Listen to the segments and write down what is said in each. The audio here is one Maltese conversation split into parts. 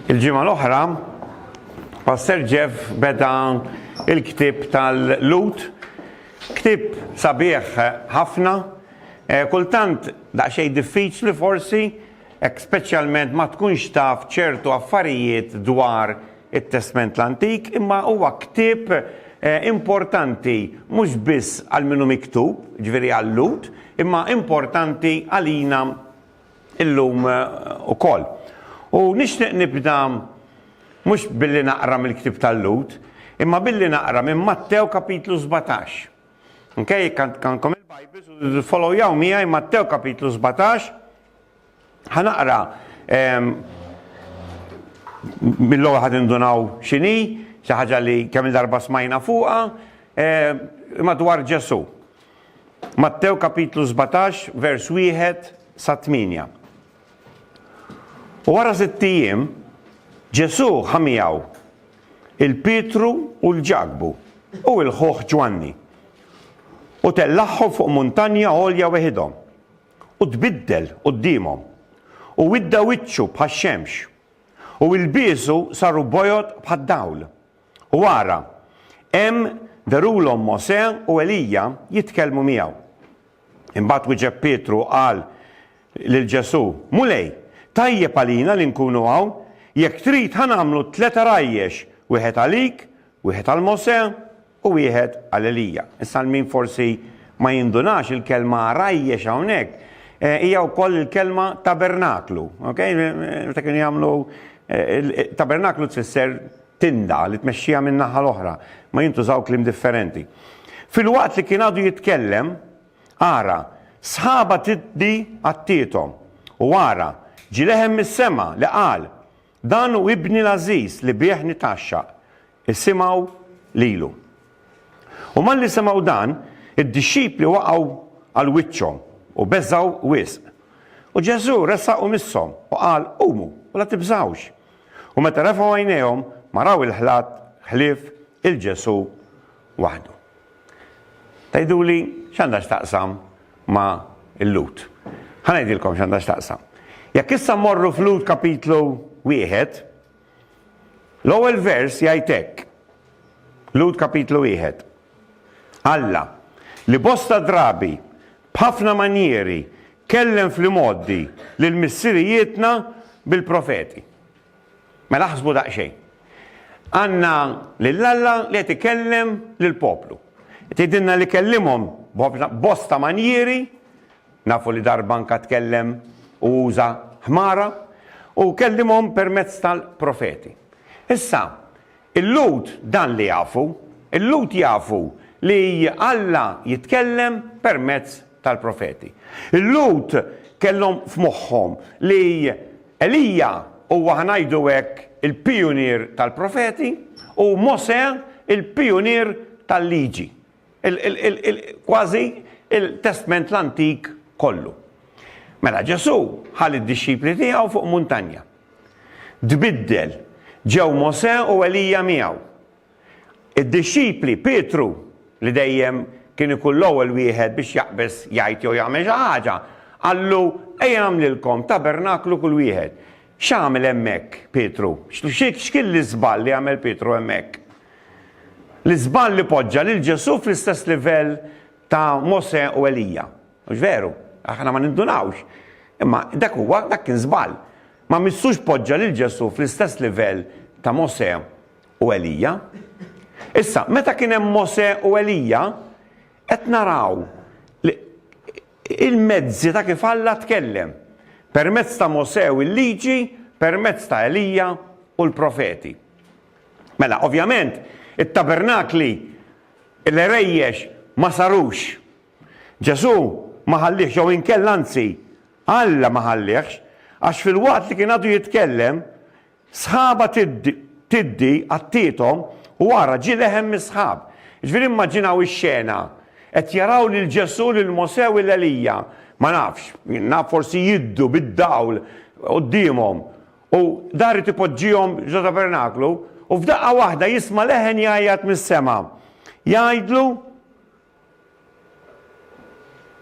Il-ġimgħa l-oħra, Pastor Jeff beda il-ktib tal-Lut, ktib sabiħ ħafna, eh, kultant daqsxejn diffiċli forsi, hekk speċjalment ma tkunx taf ċertu affarijiet dwar it-Testment l-Antik, imma huwa ktib eh, importanti mhux biss għal minnu miktub, ġveri għal-Lut, imma importanti għalina illum ukoll. U nixtieq nibda mhux billi naqra mill-Ktieb tal-Lhud, imma billi naqra minn Mattew kapitlu sbatax. Onkej, jekk għandkom il-Bibles u tifollowjaw miegħi Mattew kapitlu sbatax, ħa naqra mill-ewwel ħad indunaw x'inhi, xi ħaġa li kemm darba smajna fuqha, imma dwar Ġesù. Mattew kapitlu sbatax vers wieħed sa tmienja. U wara sitt ijiem, Ġesù ħa miegħu il-Pietru u l-Ġakbu u l-ħuh Ġwanni, u tellagħhom fuq muntanja għolja weħidhom, u tbiddel quddiemhom, u widda wiċċu bħax-xemx, u ilbiesu saru bojod bħad-dawl, U ara, hemm verulhom Mosè u Elija jitkellmu miegħu. Imbagħad wieġeb Pietru u qal lil Ġesù, Mulej, tajjeb għalina li nkunu hawn, jekk trid ħa nagħmlu tliet għarajjex, wieħed għalik, wieħed għal Mosè u wieħed għal Elija. Issa għal min forsi ma jindunax, il-kelma għarajjex hawnhekk hija wkoll il-kelma tabernaklu. Meta kienu jagħmlu tabernaklu tfisser tinda li tmexxiha min-naħa l-oħra, ma jintużaw kliem differenti. Filwaqt li kien għadu jitkellem, ara, sħaba tiddi għattiethom, u ara, ġie leħen mis-sema li qal, Dan hu Ibni l-għażiż li bih nitgħaxxaq, isimgħu lilu. U malli semgħu dan, id-dixxipli waqgħu għal wiċċhom u beżgħu wisq. U Ġesù resaq u misshom u qal, Qumu, u la tibżgħux. U meta refgħu għajnejhom, ma raw il-ħlat ħlief il-Ġesù waħdu. Tgħiduli x'għandha x'taqsam ma' l-Lhud. Ħa ngħidilkom x'għandha x'taqsam. Jekk issa mmorru f'Lhud kapitlu wieħed, l-ewwel vers jgħid hekk. Lhud kapitlu wieħed. Alla, li bosta drabi B'ħafna manjieri kellem fl-imgħoddi lil missirijietna bil-profeti. Mela aħsbu daqsxejn. Għandna lil Alla li qed ikellem lill-poplu. Qed jgħidilna li kellimhom b'bosta manjieri, nafu li darba anke tkellem u uża ħmara, u kellimhom permezz tal-profeti. Issa, Il-Lhud dan li jafu. Il-Lhud jafu li Alla jitkellem permezz tal-profeti. Il-Lhud kellhom f'moħħhom li Elija huwa, ħa ngħidu hekk, il-pijunier tal-profeti u Mosè il-pijunier tal-Liġi. kważi il-Testment l-Antik kollu. Mela Ġesù ħa lid-dixxipli tiegħu fuq muntanja. Tbiddel, ġew Mosè u Elija miegħu. Id-dixxipli Pietru li dejjem kien ikun l-ewwel wieħed biex jaqbeż jgħid jew jagħmel xi ħaġa, qallu, Ejja nagħmlilkom tabernaklu kull wieħed. X'għamel hemmhekk Pietru? X'kien l-iżball li għamel Pietru hemmhekk? L-iżball li poġġa lil Ġesù fl-istess livell ta' Mosè u Elija. Mhux veru? Aħna ma nindunawx. Imma dak huwa, dak kien żball. Ma missux poġġa lil Ġesù fl-istess livell ta' Mosè u Elija. Issa, meta kien hemm Mosè u Elija, qed naraw li Il-mezzi ta' kif Alla tkellem, permezz ta' Mosè u l-Liġi, permezz ta' Elija u l-profeti. Mela, ovvjament, it-tabernakli, l-għerejjex ma sarux. Ġesù ma ħalliehx jew inkella anzi, Alla ma ħalliehx, għax filwaqt li kien għadu jitkellem, Sħabha tiddi għattiethom u ara ġie leħen mis-sħab. Jiġifieri immaġinaw ix-xena, qed jaraw lil Ġesù, lil Mosè u 'l Elija, ma nafx, naf forsi jiddu bid-dawl quddiemhom, u dan ried ipoġġihom ġo tabernaklu, u f'daqqa waħda jisma' leħen jgħajjat mis-sema, jgħidlu,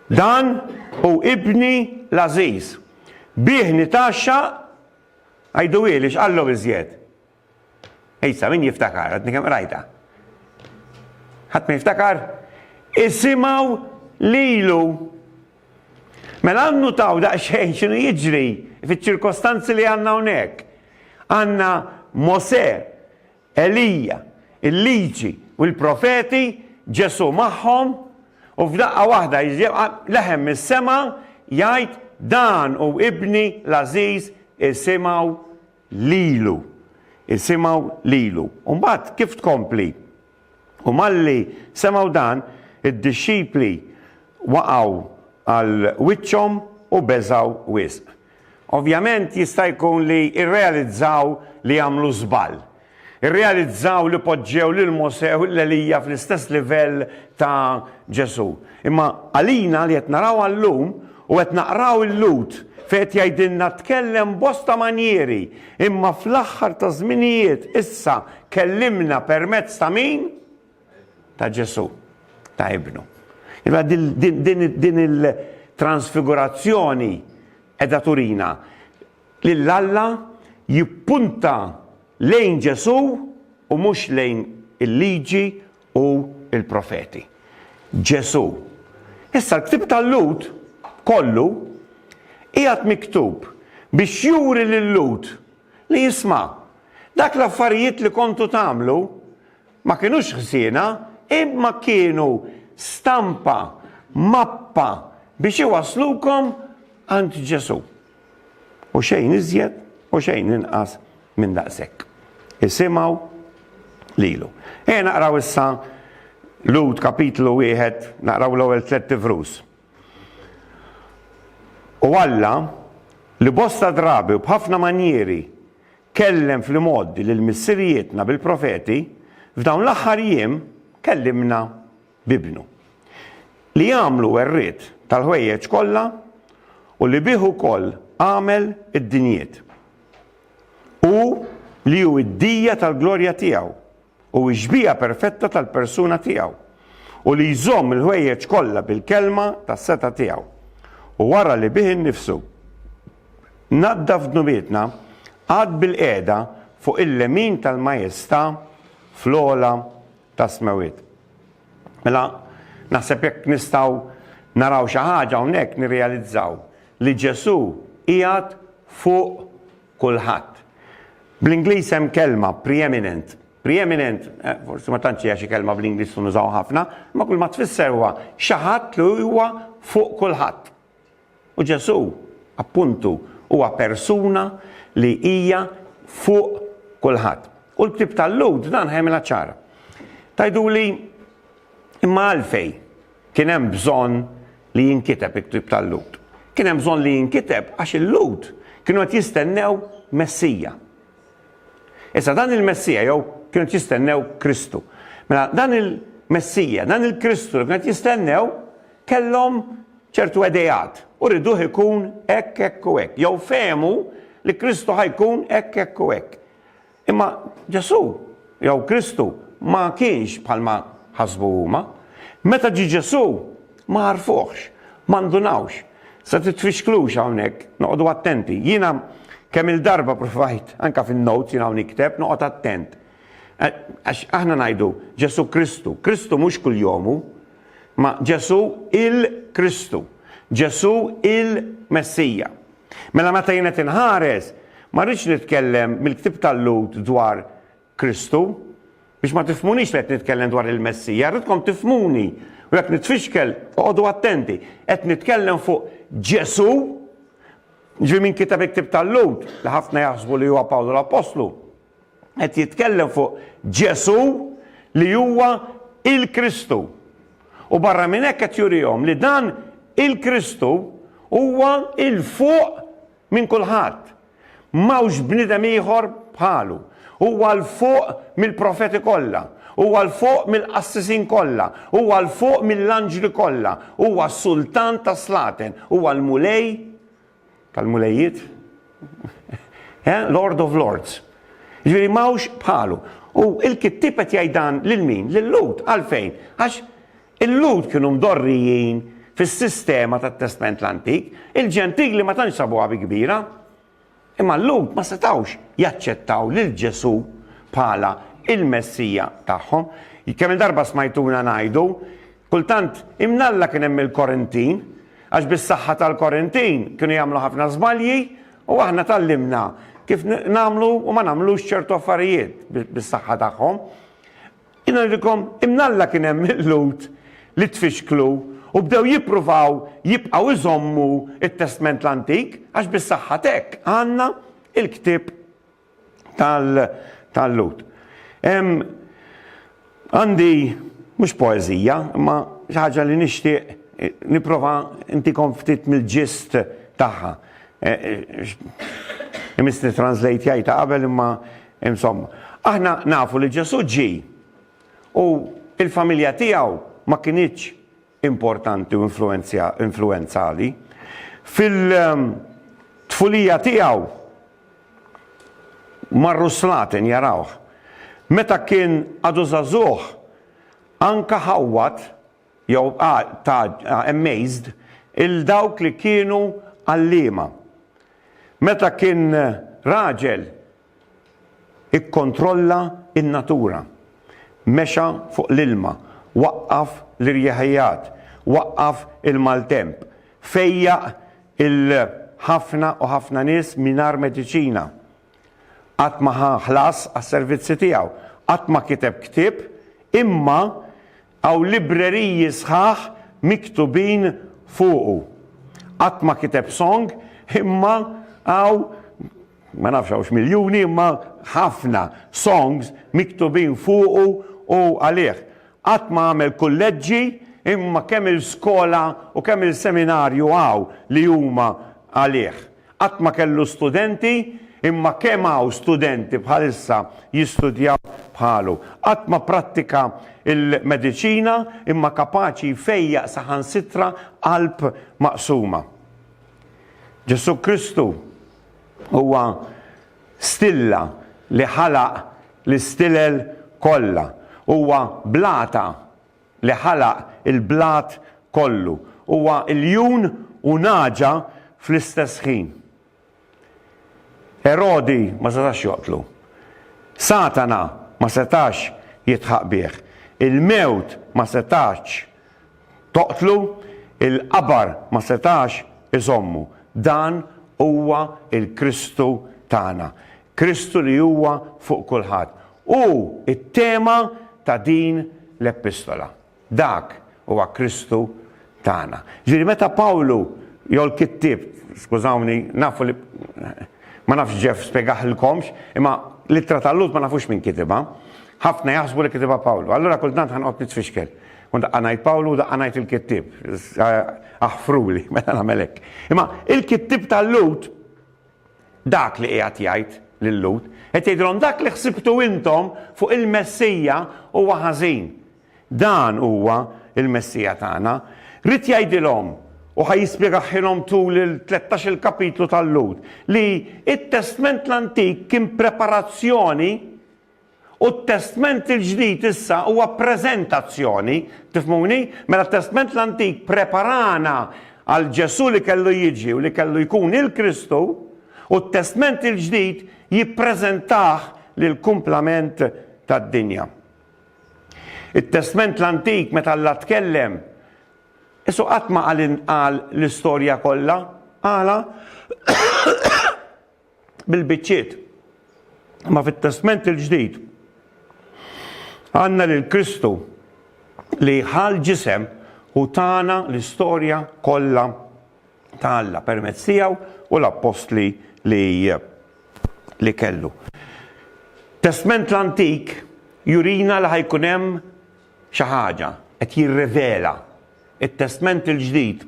Dan hu Ibni l-għażiż, bih nitgħaxxaq Għidu hi li x'qallhom iżjed. Issa min jiftakar, għadni kemm qrajtha. Ħadd ma jiftakar? Isimgħu lilu. Mela għannu taw daqsxejn x'inhu jiġri fiċ-ċirkostanzi li għandna hawnhekk. Għandna Mose Elija, il-Liġi u l-Profeti, Ġesù magħhom, u f'daqqa waħda jiġi leħen mis-sema jgħid, Dan hu Ibni l-għażiż, isimgħu lilu. Isimgħu lilu. U mbagħad kif tkompli? U malli semgħu dan, id-dixxipli waqgħu għal wiċċhom u beżgħu wisq. Ovvjament jista' jkun li rrealizzaw li għamlu żball. Irrealizzaw li poġġew lil Mosè u lil Elija fl-istess livell ta' Ġesù. Imma għalina li qed narawha llum u qed naqraw il-Lhud fejn qed jgħidilna tkellem b'bosta manjieri imma fl-aħħar taż-żminijiet issa kellimna permezz ta' min? ta' Ġesù, ta' Ibnu. Imma din il-transfigurazzjoni qiegħda turina lil Alla jippunta lejn Ġesù u mhux lejn il-Liġi u l-Profeti. Ġesù. Issa l-ktieb tal-Lhud kollu qiegħed miktub biex juri lil-Lhud li isma' dak l-affarijiet li kontu tagħmlu Ma kinux ħżiena, imma kienu stampa, mappa biex iwasslukom għand Ġesù. U xejn iżjed u xejn inqas minn daqshekk. Isimgħu lilu. Ejja naqraw issa Lud kapitlu wieħed, naqraw l-ewwel tliet tifrus. U Alla li bosta drabi u b'ħafna manjieri Kellem fl-imgħoddi lil missirijietna bil-profeti, f'dawn l-aħħar jiem kellimna b'Ibnu, li għamlu werriet tal-ħwejjeġ kollha u li bih ukoll għamel id-dinjiet. Hu li hu d-dija tal-glorja tiegħu, Hu x-xbieha perfetta tal-persuna tiegħu, u li jżomm il-ħwejjeġ kollha bil-kelma tas-setgħa tiegħu, u wara li bih innifsu naddaf dnubietna, qagħad bilqiegħda fuq il-lemin tal-majestà fl-ogħla tas-smewwiet. Mela, naħseb jekk nistgħu naraw xi ħaġa hawnhekk nirrealizzaw li Ġesù qiegħed fuq kulħadd. Bl-Ingliż hemm kelma, preeminent. Preeminent, eh, forsi ma tantx hija xi kelma bl-Ingliż li nużaw ħafna, imma kull ma tfisser huwa xi ħadd li huwa fuq kulħadd. U Ġesù, appuntu, huwa persuna li hija fuq kulħadd. U l-ktib tal-Lud dan ħajmilha ċara. Tajdu li imma għalfej Kien hemm bżonn li jinkiteb il-ktieb tal-Lhud. Kien hemm bżonn li jinkiteb għax il-Lhud kienu qed jistennew Messija. Issa dan il-Messija jew kienu qed jistennew Kristu. Mela dan il-Messija, dan il-Kristu li kienu qed jistennew kellhom ċertu edejat u riduh ikun hekk hekk u hekk. Jew fehmu li Kristu ħajkun hekk hekk u hekk. Imma Ġesù, jew Kristu, ma kienx bħalma ħasbu huma. Meta ġie Ġesù, ma għarfuhx, ma ndunawx. Se titfixklux hawnhekk, noqogħdu attenti. Jiena kemm-il darba provajt, anke fin-notes jien hawn nikteb, noqgħod attent. Għax aħna ngħidu Ġesù Kristu. Kristu mhux kuljom hu, imma Ġesù il-Kristu. Ġesù il-Messija. Mela meta jien qed inħares, ma rridx nitkellem mill-ktieb tal-Lhud dwar Kristu, biex ma tifhmunix li qed nitkellem dwar il-Messija, rridkom tifhmuni, u jekk nitfixkel, oqogħdu attenti, qed nitkellem fuq Ġesù, ġifieri min kiteb il-ktieb tal-Lhud, li ħafna jaħsbu li huwa Pawlu l-Appostlu. Qed jitkellem fuq Ġesù li huwa il-Kristu. U barra minn hekk qed jurihom li dan il-Kristu huwa 'il fuq minn kulħadd. M'hawnx bniedem ieħor bħalu. Huwa 'l fuq mill-profeti kollha. Huwa 'l fuq mill-qassisin kollha. Huwa 'l fuq mill-anġli kollha. Huwa s-Sultan tas-slaten. Huwa l-Mulej Tal-mulejjiet? Eh, Lord of Lords. Ġifieri m'hawnx bħalu. U il-kittieb qed jgħid dan lil min? Lil Lut. Għalfejn? Għax il-Lut kienu mdorrijin fis-sistema tat-Testment l-Antik, il-Ġentili ma tantx sabuha bi kbira. Imma l-Lut ma setawx jaċċettaw lil Ġesù bħala il-Messija tagħhom. Kemm darba smajtuna ngħidu Kultant, imnalla kien hemm il-korentin, għax bis-saħħa tal-korentin kienu jagħmlu ħafna żbalji u aħna tgħallimna kif nagħmlu u ma nagħmlux ċertu affarijiet bis-saħħa tagħhom. Jien ngħidilkom, imnalla kien hemm il-Lhud li tfixklu u bdew jippruvaw jibqgħu jżommu t-Testment l-Antik għax bis-saħħa t'hekk għandna l-ktieb tal-Lhud. Għandi mhux poeżija, imma xi ħaġa li nixtieq nipprova ntikom ftit mill-ġist tagħha. Imissni translate jgħidha qabel imma insomma. Aħna nafu li Ġesù ġie u l-familja tiegħu ma kinitx importanti u influwenzali. Fil-tfulija tiegħu marru s-slaten jarawh. Meta kien għadu żagħżugħ, anke ħawwad, jew amazed, 'il dawk li kienu għalliema. Meta kien raġel, Ikkontrolla n-natura. Mexa fuq l-ilma, waqqaf l-irjaħijat, waqqaf il-maltemp, fejjaq il-ħafna u ħafna nies mingħajr mediċina. Qatt ma ħa ħlas għas-servizzi tiegħu, qatt ma kiteb ktieb, imma hawn libreriji sħaħ miktubin fuqu. Qatt ma kiteb song, imma hawn ma nafx hawnx miljuni imma ħafna songs miktubin fuqu u għalih. Qatt ma għamel kulleġġi imma kemm il-skola u kemm il-seminarju hawn li huma għalih. Qatt ma kellu studenti imma kemm hawn studenti bħalissa jistudjaw bħalu. Qatt ma prattika l-mediċina imma kapaċi jfejjaq saħansitra qalb maqsuma. Ġesù Kristu Huwa stilla li ħalaq l-istilel kollha. Huwa blata li ħalaq il-blat kollu. Huwa ljun u nagħġa fl-istess ħin. Erodi ma setax joqtlu. Satana ma setax jidħaq bih. Il-mewt ma setax Toqtlu? Il-qabar ma setax iżommu. Dan huwa l-Kristu tagħna. Kristu li huwa fuq kulħadd. Hu t-tema ta' din l-Epistola. Dak huwa Kristu tagħna. Ġifieri meta Pawlu jew l-kittieb, skużawni, nafu li ma nafx Jeff spjegaħilkomx, imma l-Ittra ta' Lhud ma nafux min kitibha. Ħafna jaħsbu li kitibha Pawlu. Allura kultant ħa noqgħod nitfixkel. U daqqa ngħid Pawlu u daqqa ngħid il-kittieb. Aħfruli, meta nagħmel hekk. Imma il-kittieb tal-Lut dak li qiegħed jgħid lil-Lut, qed jgħidilhom dak li ħsibtu intom fuq il-Messija huwa ħażin. Dan huwa il-Messija tagħna. Rid jgħidilhom u ħaj jispjegaħilhom tul il-13 il-kapitlu tal-Lut li it-Testment l-Antik kien preparazzjoni U t-Testment il-Ġdid issa huwa preżentazzjoni, tifhmuni? Mela t-Testment l-Antik preparana għal Ġesù li kellu jiġi u li kellu jkun il-Kristu, u t-Testment il-Ġdid jippreżentah lill-kumplament tad-dinja. It-Testment l-Antik meta Alla tkellem, Jesù qatt ma qal intqal l-istorja kollha. Għala? bil-biċċiet. Imma fit-Testment il-Ġdid għandna lil Kristu li ħal ġisem u tana l-istorja kollha ta' Alla permezz tiegħu u l-appostli li li kellu. Testment l-Antik jurina li ħajkun hemm Xi ħaġa, qed jirrivela. It-Testment il-Ġdid,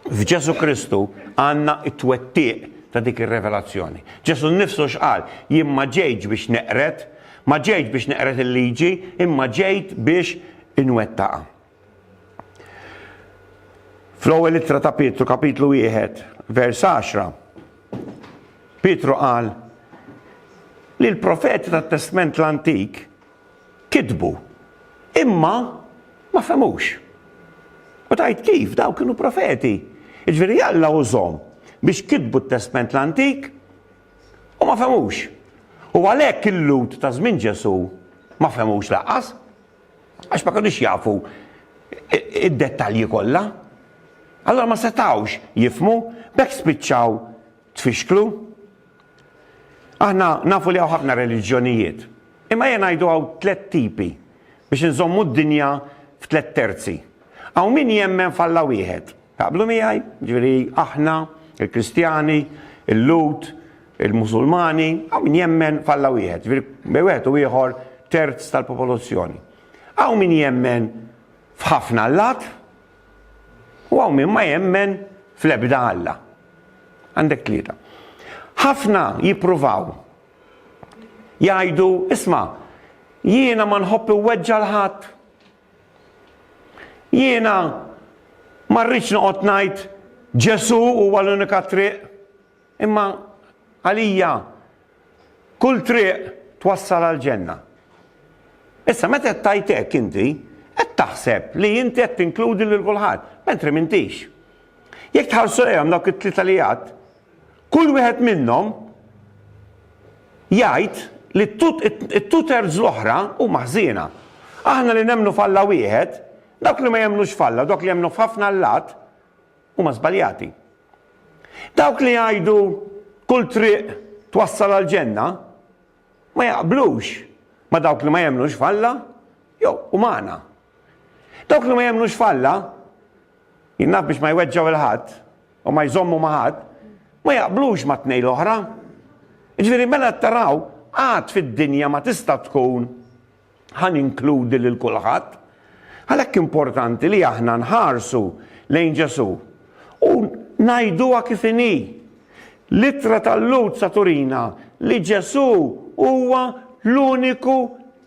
f'Ġesù Kristu għandna t-twettiq ta' dik ir-revelazzjoni. Ġesù nnifsu x'qal? Jien ma ġejtx biex neqred, ma ġejtx biex neqred il-liġi, imma ġejt biex inwettaqha. Fl-ewwel ittra ta' Pietru, kapitlu wieħed, vers għaxra, Pietru qal li l-profeti tat-Testment l-Antik kitbu, imma ma fehmux. U tgħid kif, dawn kienu profeti. Jiġifieri Alla użhom biex kitbu t-Testment l-Antik u ma fehmux. U għalhekk il-Lhud ta' żmien Ġesù ma fehmux lanqas, għax ma kinux jafu d-dettalji kollha. Allura ma setgħux jifhmu, b'hekk spiċċaw tfixklu. Aħna nafu li hawn ħafna reliġjonijiet, imma ejja ngħidu hawn tliet tipi biex inżommu d-dinja f'tliet terzi. Hawn min jemmen f'Alla wieħed. Taqblu miegħi? Jiġifieri aħna, il-Kristjani, il-Lhud, il-Musulmani, hawn min jemmen f'Alla wieħed, jiġifieri bejn wieħed u ieħor terz tal-popolozzjoni. Hawn min jemmen f'ħafna allat, U hawn min ma jemmen fl-ebda Alla. Għandek tlieta. Ħafna jippruvaw jgħidu, isma' jiena ma nħobb iweġġa' l-ħadd. Jiena ma rridx noqgħod ngħid Ġesù huwa l-unika triq. Imma għalija kull triq twassal għall-ġenna. Issa meta qed tgħid hekk inti, qed taħseb li inti qed tinkludi lil kulħadd, mentri m'intix. Jekk tħarsu lejhom dawk it-tlieta li għadt, kull wieħed minnhom jgħid li t-two thirds l-oħra huma ħżiena. Aħna li nemmnu f'Alla wieħed, dawk li ma jemmnux f'Alla, dawk li jemmnu f'ħafna allat, huma żbaljati. Dawk li jgħidu kull triq twassal għal ġenna ma jaqblux ma dawk li ma jemnux falla jew u maħna. Dawk li ma jemnux falla jinnaf biex ma jweġġaw il-ħadd u ma jżommu maħad ma jaqblux ma tnej l-oħra. Ġviri mela taraw għad fid-dinja ma tista' tkun Ħa ninkludi lil kulħadd. Għalhekk importanti li aħna nħarsu lejn Ġesù u ngħiduha kif inhi. L-ittra tal-Lhud sa turina li Ġesù huwa l-uniku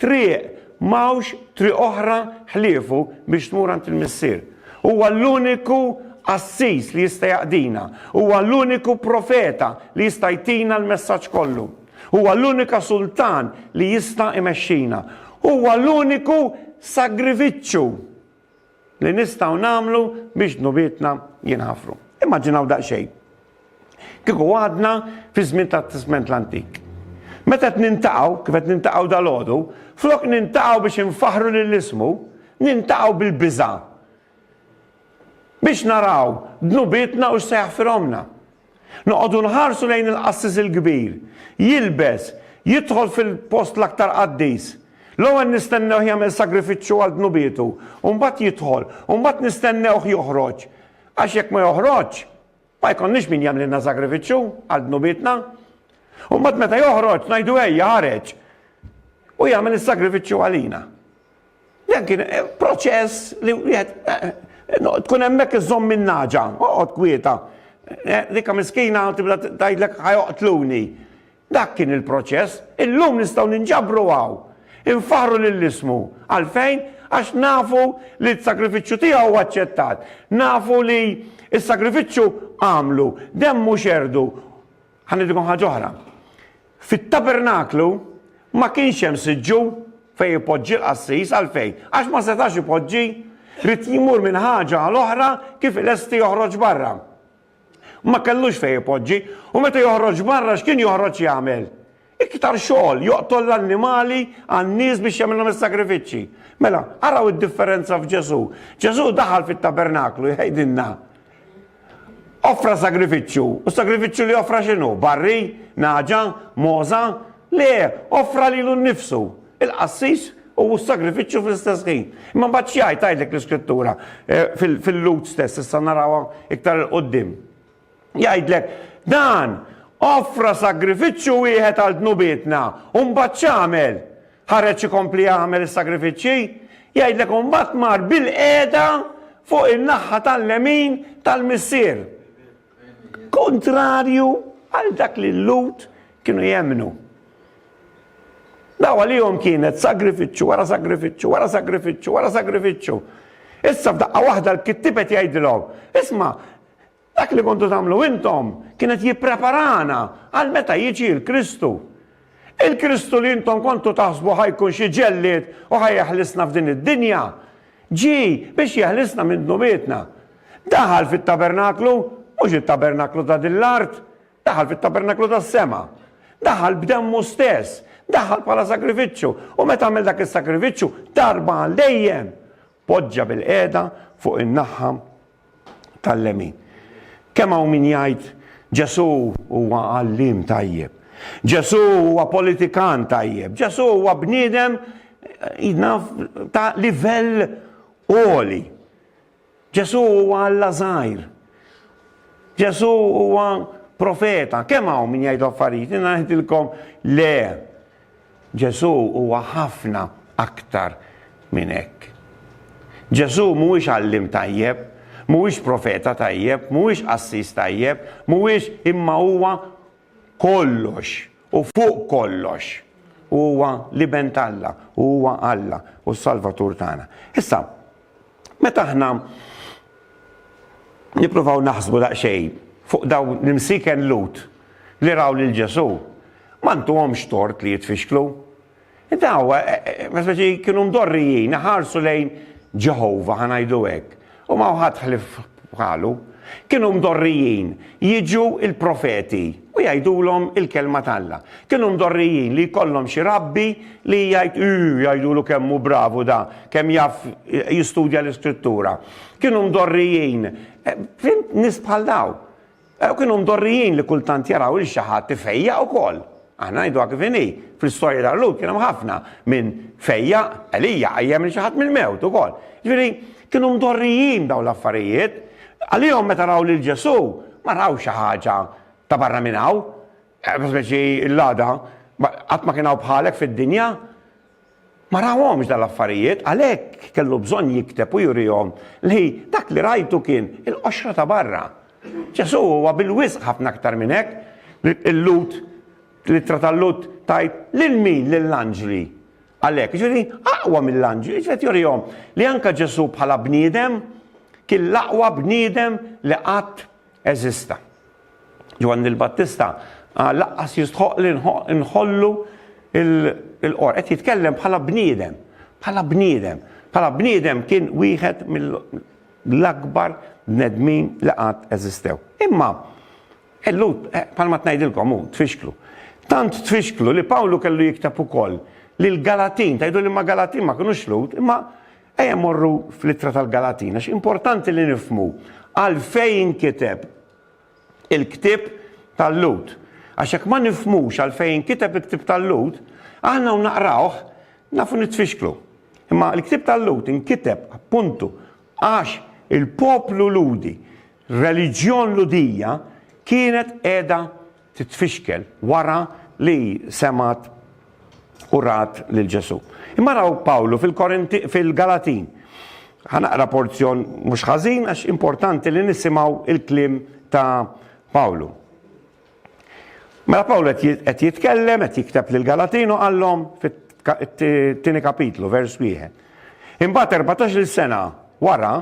triq, m'hawnx triq oħra ħliefu biex tmur għand il-Missier. Huwa l-uniku qassis li jista' jaqdina, huwa l-uniku profeta li jista' jtina l-messaġġ kollu. Huwa l-unika Sultan li jista' imexxina. Huwa l-uniku sagrifiċċju li nistgħu nagħmlu biex dnubietna jinħafru. Immaġinaw daqsxejn. Kieku għadna fi żmien tat-Testment l-Antik. Meta qed nintaqgħu, kif qed nintaqgħu dalgħodu, flok nintaqgħu biex infaħħru lil ismu, nintaqgħu bil-biża'. Biex naraw dnubietna u x'se jaħfirhomlna. Noqogħdu nħarsu lejn il-qassis il-kbir, jilbes, jidħol fil-post l-aktar qaddis. L-ewwel nistennewh jagħmel sagrifiċċju għal dnubietu, u mbagħad jidħol, u mbagħad nistennewh joħroġ. Għax jekk ma joħroġx, ma jkollniex min jagħmlilna sagrifiċċju għal dnubietna. U mbagħad meta joħroġ ngħidu ejja ħareġ u jagħmel is-sagrifiċċju għalina. Dan kien eh, proċess li wieħed eh, eh, tkun hemmhekk iżomm minn naġa, oqgħod kwieta. Dikka miskina tibda tgħidlek ħajoqtluni. Dak kien il-proċess, illum nistgħu ninġabru għaw. Infaħru lill-ismu. Għalfejn? Għax nafu li t-sagrifiċċju tiegħu huwa aċċettat. Nafu li s-sagrifiċċju għamlu, demmu xerdu Ħa ngħidilkom ħaġa oħra. Fit-tabernaklu ma kienx hemm siġġu fejn ipoġġi l-qassis għalfejn? Għax ma setax ipoġġi, rid jmur minn ħaġa għal oħra kif ilesti joħroġ barra. Ma kellux fejn ipoġġi, u meta joħroġ barra x'kien joħroġ jagħmel? Iktar xogħol joqtol l-annimali għan-nies biex jagħmilhom is-sagrifiċċji. Mela, araw id-differenza f'Ġesù. Ġesù daħal fit-tabernaklu jgħidilna. Offra sagrifiċċju, u sagrifiċċju li offra x'inhu? Barri, naġa, moża? Le, offra lilu nnifsu. Il-qassis u s-sagrifiċċju fl-istess ħin. Imma mbagħad xi jgħid tgħidlek l-iskrittura eh, fil-lut stess, issa narawha iktar il-qudiem. Jgħidlek, Dan! Offra sagrifiċċju wieħed għal dnubietna, u mbagħad x'għamel? Ħareġ ikompli jagħmel is-sagrifiċċji? Jgħidlek, u mbagħad mar bilqiegħda fuq in-naħħa tal-lemin tal-Missier. Kuntrarju għal dak li l-Lhud kienu jemmnu. Daw għalihom kienet sagrifiċċju wara sagrifiċċju wara sagrifiċċju wara sagrifiċċju. Issa f'daqqa waħda l-kittibet jgħidilhom, isma' Dak li kontu tagħmlu intom kienet jippreparana għal meta jiġi l-Kristu. Il-Kristu li intom kontu taħsbu ħajkun xi ġellied u ħajjeħlisna f'din id-dinja, ġi biex jeħlisna minn dnubietna. Daħal fit-tabernaklu, mhux it-tabernaklu ta' din l-art, daħal fit-tabernaklu tas-sema. Daħal b'demmu stess, daħal bħala sagrifiċċju u meta għamel dak is-sagrifiċċju darba għal dejjem poġġa bil-qiegħda fuq in-naħħa tal-lemin. Kemm hawn min jgħid Ġesù huwa għalliem tajjeb, Ġesù huwa politikan tajjeb, Ġesù huwa bniedem jnaf ta' livell għoli. Ġesù huwa Alla żgħir. Ġesù huwa profeta. Kemm hawn min jgħid affarijiet, ngħidilkom le. Ġesù huwa ħafna aktar minn hekk. Ġesù mhuwiex għalliem tajjeb, mhuwiex profeta tajjeb, mhuwiex qassis tajjeb, mhuwiex imma huwa kollox u fuq kollox. Huwa l-Iben t'Alla u huwa Alla u s-Salvatur tagħna. Issa, Meta aħna nippruvaw naħsbu daqsxejn fuq dawn l-imsieken Lhud li raw lil Ġesù, ma ntuhomx tort li jitfixklu. Daw, eh, eh, eh, speċi kienu mdorrijin, ħarsu lejn Ġeħova, ħa ngħidu hekk, u ma ħadd ħlif U qalu, Kienu mdorrijin jiġu l-profeti u jgħidulhom il-kelma t'Alla. Kienu mdorrijin li jkollhom xi rabbi li jgħid, Ii, jgħidulu kemm hu bravu da, kemm jaf jistudja l-Iskrittura. Kienu mdorrijin, fhimt, nies bħal dawn. U kienu mdorrijin li kultant jaraw lil xi ħadd ifejjaq ukoll. Aħna ngħiduha kif inhi, fl-istorja ta' Lhud kien hemm ħafna min fejjaq, Elija qajjem lil xi ħadd mill-mewt ukoll. Jiġifieri, kienu mdorrijin b'dawn l-affarijiet. Għalihom meta raw lil Ġesù, ma raw xi ħaġa ta' barra minn hawn. Speċi l-għada, qatt ma kien hawn bħalek fid-dinja. Ma rahomx dan l-affarijiet, għalhekk kellu bżonn jikteb u jurihom li dak li rajtu kien il-qoxra ta' barra. Ġesù huwa bil-wisq ħafna aktar minn hekk. Il-Lut, l-Ittra tal-Lut tgħid lil min? Lill-anġli. Għalhekk, jiġifieri aqwa mill-anġli, jiġifieri qed jurihom li anke Ġesù bħala bniedem kien l-aqwa bniedem li qatt eżista. Ġwanni l-Battista qal laqqas jistħoq li nħollu il-qor. Qed jitkellem bħala bniedem, bħala bniedem, bħala bniedem kien wieħed mill-akbar bnedmin li qatt eżistew. Imma Ellut, eh, palma tnajdilkom, u tfixklu. Tant tfixklu li Pawlu kellu jikteb ukoll li l-Galatin, tajdu li ma Galatin ma kienu xlut, imma Ejja mmorru fl-Ittra tal-Galatin għax importanti li nifhmu għalfejn inkiteb il-ktieb tal-Lhud. Għax jekk ma nifhmux għalfejn inkiteb il-ktieb tal-Lhud, aħna u naqrawh nafu nitfixklu. Imma l-ktieb tal-Lhud inkiteb appuntu għax il-poplu Lhudi, reliġjon Lhudija kienet qiegħda titfixkel wara li semgħet u rat lil Ġesù. Imma raw Pawlu fil-Galatin. Ħa naqra porzjon mhux ħażin għax importanti li nisimgħu il-kliem ta' Pawlu. Mela Pawlu qed jitkellem, qed jikteb lil Galatin u qallhom fit-tieni kapitlu, vers wieħed. Imbagħad erbatax-il sena wara,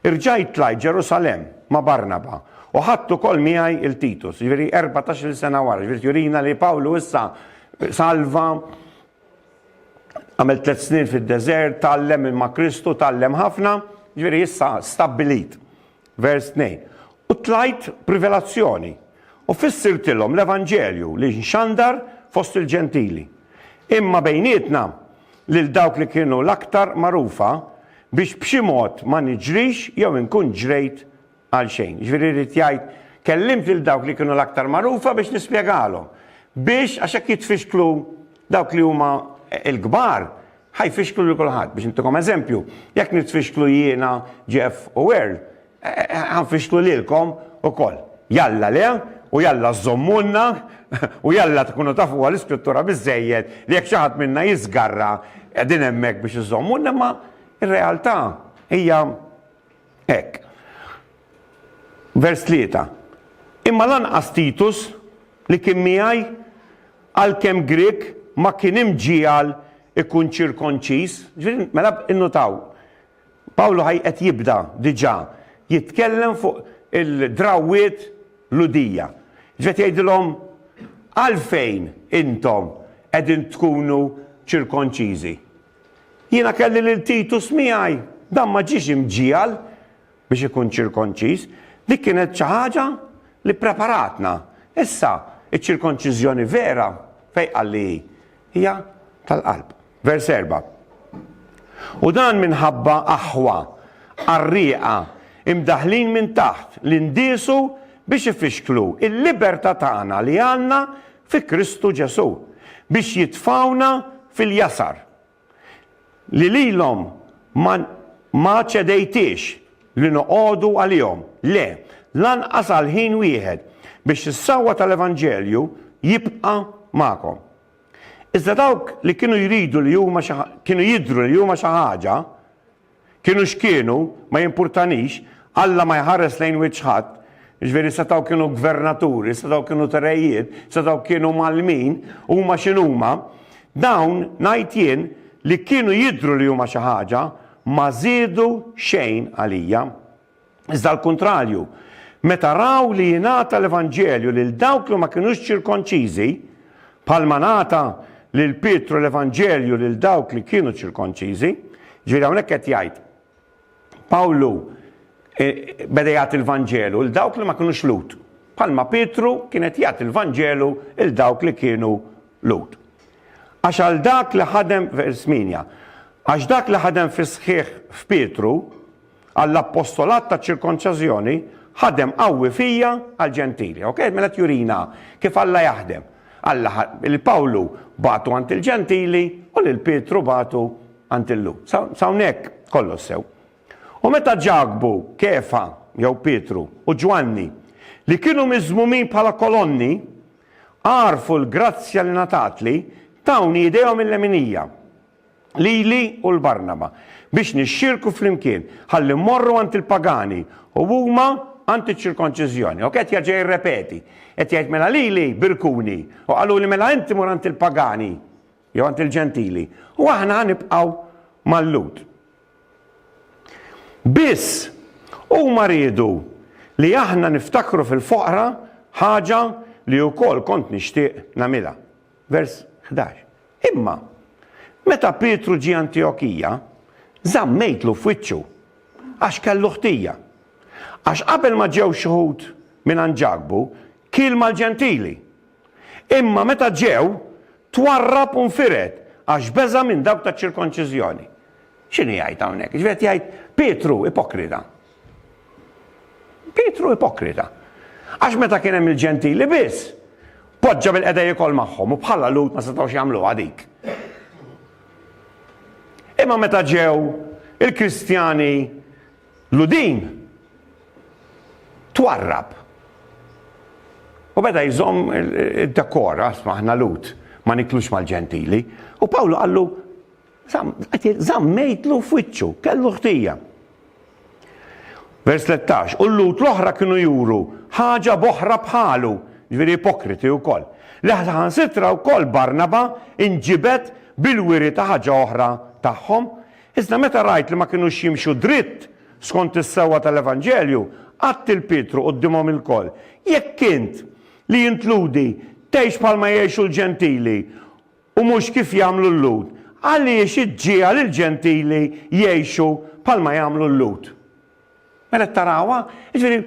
rġajt tlajt Ġerusalemm ma' Barnaba, u ħadt ukoll miegħi 'l Titus. Jiġifieri erbatax-il sena wara, jiġifieri qed jurina li Pawlu issa salva, għamel tliet snin fid-deżert, tgħallem ma' Kristu, tgħallem ħafna, jiġifieri issa stabbilit. Vers 2, U tlajt b'rivelazzjoni, u fissirtilhom l-evanġelju li nxandar fost il-Ġentili. Imma bejnietna, lil dawk li kienu l-aktar magħrufa, biex b'xi mod ma niġrix jew inkun ġrejt għal xejn. Jiġifieri jrid jgħid, kellimt lil dawk li kienu l-aktar magħrufa biex nispjegalhom, biex, għax hekk jitfixklu dawk li huma l-kbar, Ħa jfixklu lil kulħadd. Biex ntikom eżempju, jekk nitfixklu jiena, Jeff u Earl, ħa nfixklu lilkom ukoll. Jalla le, u jalla żżommulna, u jalla tkunu tafuha l-Iskrittura biżżejjed li jekk xi ħadd minna jiżgarra qegħdin hemmhekk biex iżommulna, imma r-realtà hija Hekk. Vers 3, Imma lanqas Titus, li kien miegħi, għalkemm Grieg, ma kien imġiegħel ikun ċirkonċiż. Ġifieri, mela innutaw, Pawlu ħaj qed jibda diġà jitkellem fuq il-drawwiet Lhudija. Ġifieri qed jgħidilhom, Għalfejn intom qegħdin tkunu ċirkonċiżi? Jiena kelli lil Titus miegħi. Dan ma ġiex imġiegħel biex ikun ċirkonċiż. Dik kienet xi ħaġa li ppreparatna. Issa, iċ-ċirkonċiżjoni vera, fejn qal li hi? Hija tal-qalb. Vers erba', U dan minħabba aħwa qarrieqa mdaħħlin minn taħt li ndiesu biex ifixklu l-libertà tagħna li għandna fi Kristu Ġesù, biex jitfgħuna fil-jasar, li lilhom ma, ma ċedejtiex li noqogħdu għalihom, le, lanqas għal ħin wieħed, biex is-sewwa tal-evanġelju jibqa' magħkom. Iżda dawk li kienu jridu li huma xi, kienu jidhru li huma xi ħaġa, Kienu x'kienu, ma jimpurtanix, Alla ma jħares lejn wiċċ ħadd, jiġifieri setgħu kienu gvernaturi, setgħu kienu t-rejiet, setgħu kienu mgħallmin, huma x'inhuma, dawn, ngħid jien, li kienu jidhru li huma xi ħaġa, ma żiedu xejn għalija. Iżda għall-kuntrarju, meta raw li jingħata l-Evanġelju lil dawk li ma kinux ċirkonċiżi, bħalma ngħata lil Pietru l-Evanġelju lil dawk li kienu ċirkonċiżi, ġifieri hawnhekk qed jgħid Pawlu e, beda jagħti l-Vanġelu lil dawk li ma kinux Lhud, bħalma Pietru kien qed jagħti l-Vanġelu lil dawk li kienu Lhud. Għax għal dak li ħadem vers minja, għax dak li ħadem fis-sħiħ f'Pietru, Għall-appostolat taċ-ċirkonċażjoni, ħadem qawwi fija għall-Ġentili. Ok, mela qed jurina kif Alla jaħdem. Alla ħa lil Pawlu bagħtu għand il-Ġentili u lil Pietru bagħtu għand il-Lhud. Sa sa hawnhekk kollox sew. U meta Ġakbu, Kefa jew Pietru u Ġwanni li kienu miżmumin bħala kolonni għarfu l-grazzja li ngħatatli, tawni idejhom il-leminija. lili u 'l Barnaba, biex nixxierku flimkien, ħalli mmorru għand il-pagani, u huma għand iċ-ċirkonċiżjoni. Hawn qed jerġa' jirrepeti, qed jgħid, Mela lili birkuni, u qaluli, Mela inti mur għand il-pagani, jew għand il-Ġentili, u aħna ħa nibqgħu mal-Lhud. Biss, huma riedu li aħna niftakru fil-foqra ħaġa li wkoll kont nixtieq nagħmilha. Vers 11. Imma, meta Pietru ġie Antiokija, żammejtlu f'wiċċu, għax kellu ħtija. Għax qabel ma ġew xhud mingħand Ġakbu, kiel mal-Ġentili. Imma meta ġew, twarrab u nfired, għax beża' minn dawk taċ-ċirkonċiżjoni. X'inhu jgħid hawnhekk? Jiġifieri qed jgħid, Pietru, ipokrita, Pietru ipokrita. Għax meta kien hemm il-Ġentili biss, poġġa bil-qeda jiekol magħhom u bħala Lhud ma setgħux jagħmluha dik. Imma meta ġew il-Kristjani Ludin, twarrab. U beda jżomm id-dekora, smaħna Lhud, ma niklux mal-Ġentili. U Pawlu qallu, Zammejtlu f'wiċċu, kellu ħtija. Vers 13, u l-lut l-oħra kienu juru ħaġa boħra bħalu, ġviri ipokriti u koll. Leħlaħan sitra u koll Barnaba inġibet bil-wiri ta' ħaġa oħra tagħhom, iżda meta rajt li ma kienu ximxu dritt skont is-sewa tal-Evanġelju, għatt il-Pietru qoddimhom il-koll. Jekk int li jintludi tgħix bħalma jgħixu l-ġentili u mhux kif jagħmlu l-Lhud, għaliex iġġiegħel il-Ġentili jgħixu bħalma jagħmlu l-Lhud. Mela qed tarawha? Jiġifieri,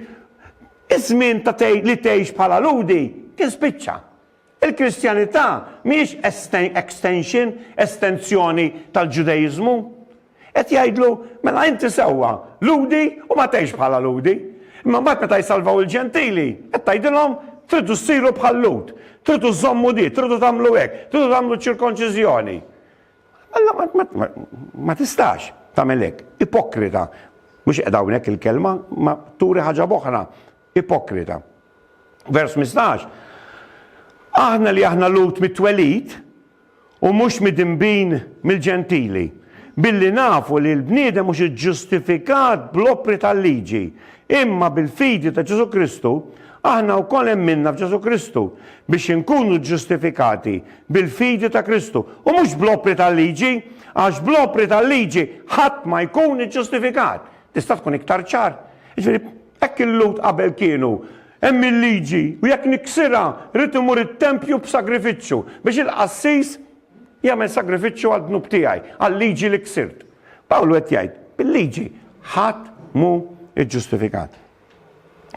iż-żmien ta' li tgħix bħala Lhudi kien spiċċa. Il-Kristjanità mhijiex extension, estenzjoni tal-Ġudeiżmu. Qed jgħidlu, Mela inti sewwa, Lhudi u ma tgħixx bħala Lhudi. Imma mbagħad meta jsalvaw il-Ġentili, qed tgħidilhom, Tridu ssiru bħal Lhud, tridu żżommu di, tridu tagħmlu hekk, tridu tagħmlu ċ-ċirkonċiżjoni. Alla ma tistax tagħmel hekk, ipokrita. Mhux qiegħda hawnhekk il-kelma, ma turi ħaġa b'oħra, ipokrita. Vers 15. Aħna li aħna Lhud mit-twelid, u mhux midinbin mill-Ġentili, billi nafu li l-bniedem mhux iġġustifikat bl-opri tal-liġi, imma bil-fidi ta' Ġesù Kristu, aħna wkoll emminna f'Ġesù Kristu, biex inkunu ġġustifikati bil-fidi ta' Kristu, u mhux bl-opri tal-liġi, għax bl-opri tal-liġi ħadd ma jkun iġġustifikat. Tista' tkun iktar ċar? Jiġifieri, hekk il-Lhud qabel kienu Hemm il-liġi, u jekk niksirha, rrid imur it-tempju b'sagrifiċċju, biex il-qassis jagħmel sagrifiċċju għad-dnub tiegħi, għal-liġi li ksirt. Pawlu qed jgħid, bil-liġi ħadd mhu ġġustifikat.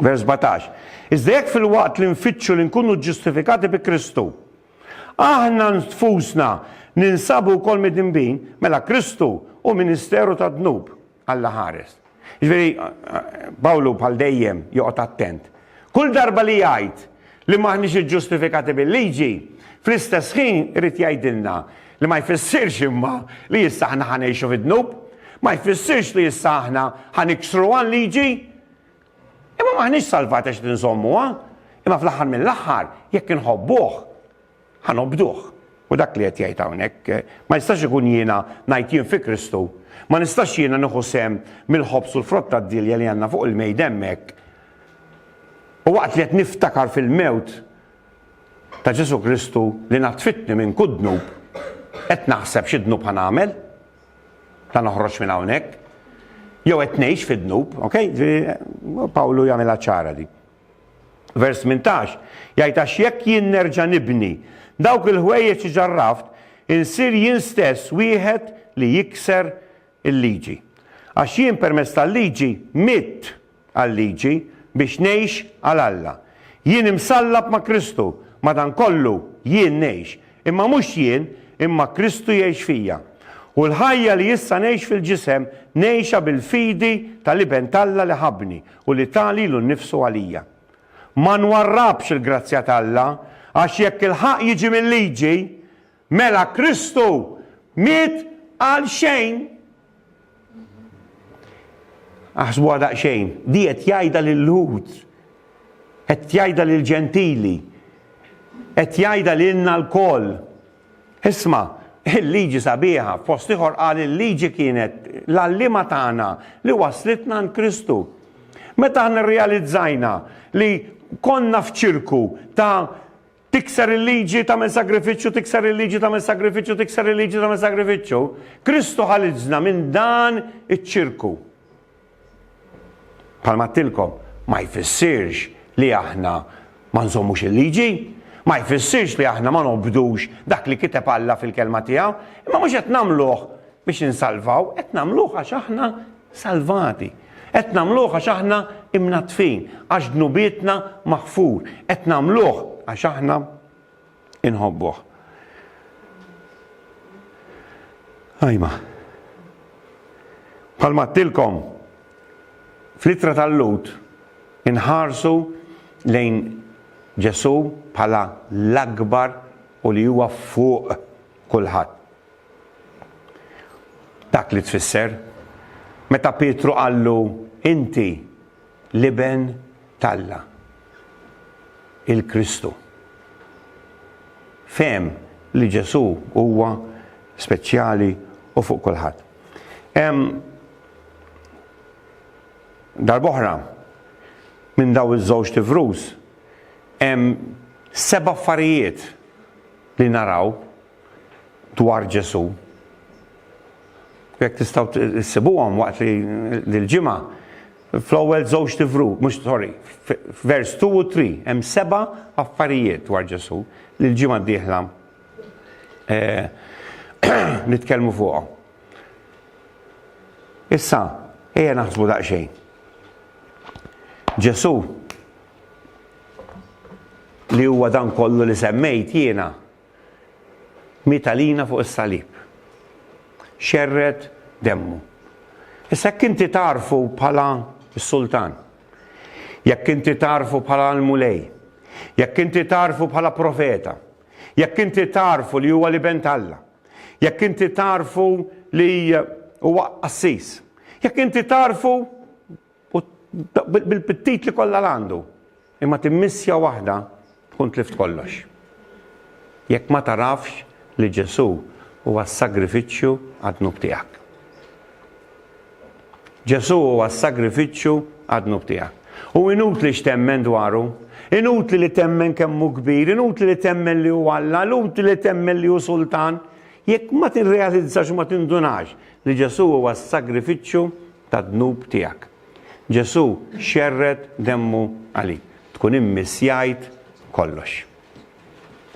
Vers 17. Iżda jekk fil-waqt li nfittxu li nkunu ġġustifikati bi Kristu, aħna nfusna ninsabu wkoll midinbin, mela Kristu u ministeru tad-dnub. Alla ħares. Jiġifieri, Pawlu bħal dejjem joqgħod attent. Kull darba li jgħid li m'aħniex iġġustifikati bil-liġi, fl-istess ħin irid jgħidilna li ma jfissirx imma li issa aħna ħa ngħixu fid-dnub, ma jfissirx li issa aħna ħa niksruha l-liġi. Imma m'aħniex salvati għax qed inżommuha, imma fl-aħħar mill-aħħar jekk inħobbuh. Ħa nobduh. Hu dak li qed jgħid hawnhekk. Ma nistax ikun jiena ngħid jien fi Kristu. Ma nistax jiena nieħu sehem mill-ħobż u l-frott tad-dielja li għandna fuq il-mejda hemmhekk. U waqt li qed niftakar fil-mewt ta' Ġesù Kristu li naddfitni minn kull dnub, qed naħseb xi dnub ħa nagħmel? Ta' noħroġ minn hawnhekk? Jew qed ngħix fid-dnub, okej? Pawlu jagħmilha ċara di. Vers 18 jgħid għax jekk jien nerġa' nibni dawk il-ħwejjeġ li ġarraft, insir jien stess wieħed li jikser il-liġi. Għax jien permezz tal-liġi mitt għal-liġi biex ngħix għal Alla. Jien imsallab ma' Kristu, madankollu jien ngħix, imma mhux jien, imma Kristu jgħix fija. U l-ħajja li issa ngħix fil-ġisem ngħixha bil-fidi tal-Iben t'Alla li ħabbni u li ta lilu nnifsu għalija. Ma nwarrabx il-grazzja t'Alla, għax jekk il-ħaqq jiġi mil-liġi, mela Kristu miet għalxejn. Aħsbuha daqsxejn, di qed jgħidha lil-Lhud, qed jgħidha lill-Ġentili, qed jgħidha lilna lkoll. Isma', il-liġi sabiħa, fost ieħor qal il-liġi kienet l-għalliema tagħna li wasslitna għand Kristu. Meta aħna rrealizzajna li konna f'ċirku ta' tikser il-liġi tagħmel sagrifiċċju, tikser il-liġi tagħmel sagrifiċċju, tikser il-liġi tagħmel sagrifiċċju, Kristu ħaliġna minn dan iċ-ċirku. Bħalma għedtilkom, ma jfissirx li aħna ma nżommux il-liġi, ma jfissirx li aħna ma nobdux dak li kiteb Alla fil-Kelma tiegħu, imma mhux qed nagħmluh biex insalvaw, qed nagħmluh għax aħna salvati. Qed nagħmluh għax aħna imnaddfin, għax dnubietna maħfur, qed nagħmluh għax aħna inħobbuh. Ajma. Bħalma għattilkom, fl-ittra tal-lut inħarsu lejn Ġesu bħala l-akbar u li huwa fuq kulħadd. Dak li tfisser, meta Pietru qallu inti l-Iben t'Alla, il-Kristu. Fehem li Ġesù huwa speċjali u fuq kulħadd. Hemm darb'oħra minn daw iż-żewġt ivrus hemm seba' affarijiet li naraw dwar Ġesù. Jekk tistgħu ssibuhom waqt li l-ġimgħa fl-ewwel żewġ tivru, mhux sorry, vers 2 u 3 hemm seba' affarijiet dwar Ġesù li l-ġimgħa d-dieħla eh, nitkellmu fuqhom. Issa, ejja naħsbu daqsxejn. Ġesu li huwa dan kollu li semmejt jiena miet għalina fuq is-salib. Xerred demmu. Issa jekk inti tagħrfu bħala s-Sultan, jekk inti tagħrfu bħala l-Mulej, jekk inti tagħrfu bħala profeta, jekk inti tagħrfu li huwa l-Iben t'Alla, jekk inti tagħrfu li huwa qassis, jekk inti tagħrfu U bil-pittit li kollha l-għandu. Imma timmissja waħda tkun tlift kollox. Jekk ma tagħrafx li Ġesù huwa s-sagrifiċċju għad-dnub tiegħek. Ġesù huwa s-sagrifiċċju għad-dnub tiegħek. U inutli x'temmen dwaru, inutli li temmen kemm hu kbir, inutli li temmen li hu Alla, inutli li temmen li hu Sultan, jekk ma tirrealizzax u ma tindunax li Ġesù huwa s-sagrifiċċju tad-dnub tiegħek. Ġesù xerred demmu għalik. Tkun immissjajt kollox.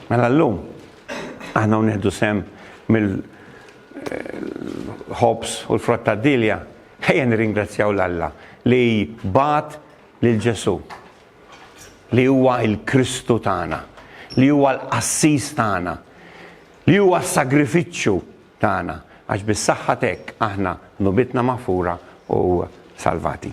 Mela llum aħna nieħdu sem mill ħobs u l-frott tad-dilja, ħejja nirringrazzjaw l Alla li bat lil Ġesù li huwa il-Kristu tagħna, li huwa l-qassis tagħna, li huwa s-sagrifiċċju tagħna, għax bis-saħħa t'hekk aħna dnubietna maħfura u salvati.